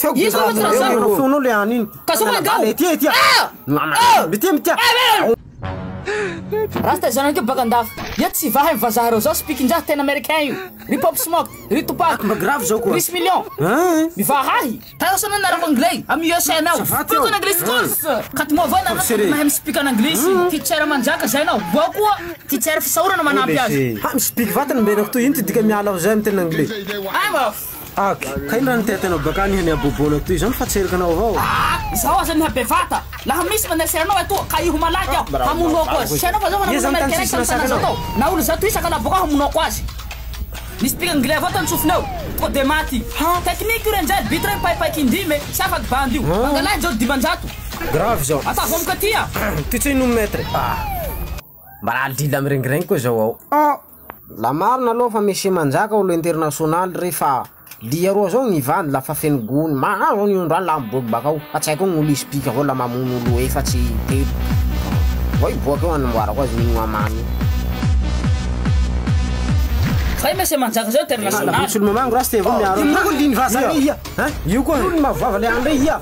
Feo Iza no tsy razana? Feo feonao le any iny. Ka zao mangaho. Ety ety. Ah! Mitia mitia. Rasta zanak'io baka andafy. Eto tsy vaha ny vazaha reo zao spiakinjaha tena americain io. Ry pop smock, ry tupac, Mba grave zao koa. ry smillion. Hein? Mivaha ahy. Tara sao anao narava anglais am USA anao. Ça va, Teo? Speak an English course. Ka ty moa va nareo Professeur e. mahay mi speak an anglisy. Teacher manjaka zay anao. Boo koa teacher fisaorana manampy azy. Ha mi-speak vatana mba henoko toy ino ty dika miala ao zay amin'ny teny anglais. Ay mafy. Ak, kay raha nitety anao bakany hany haboboana toy izany fa tsy erika anao avao? Ah! Izaho aza miha bevata! Laha misy maneser anao etoa ka hiho malaky aho hamono ako azy! Tsy hainao fa zao manao mouvement mikereke amin'ny tanana zao tao! Na olo zato isaka laha bokao hamono ako azy! Nisy pika ngilay avao tany sofina ao to de maty! Ha! Technique io re njay but re mipaipaiky indimy e! Tsy afaky bandy io! Mangalahy Jody dimanjato! Grave izao! Ataovy amiko aty a! Toy tsy inona maître e! Ah! Mba raha lila mirengirengy koa zao ao. Ah! La marina aloha fa Messie Manjaka olo internationaly re fa lia roa zao gny vady la fa feno gony, mahazo an'io androany la miboaky bakao fa tsy haiko gn'olo hisy pika avao la mamono olo efatsy, telo. Vao hiboaka eo hanamboarako azy minwa mamy io. Fa i Messie Manjaka zao internationaly. Io koa liny vazaha re ia! Io koa liny mavovava le any re ia!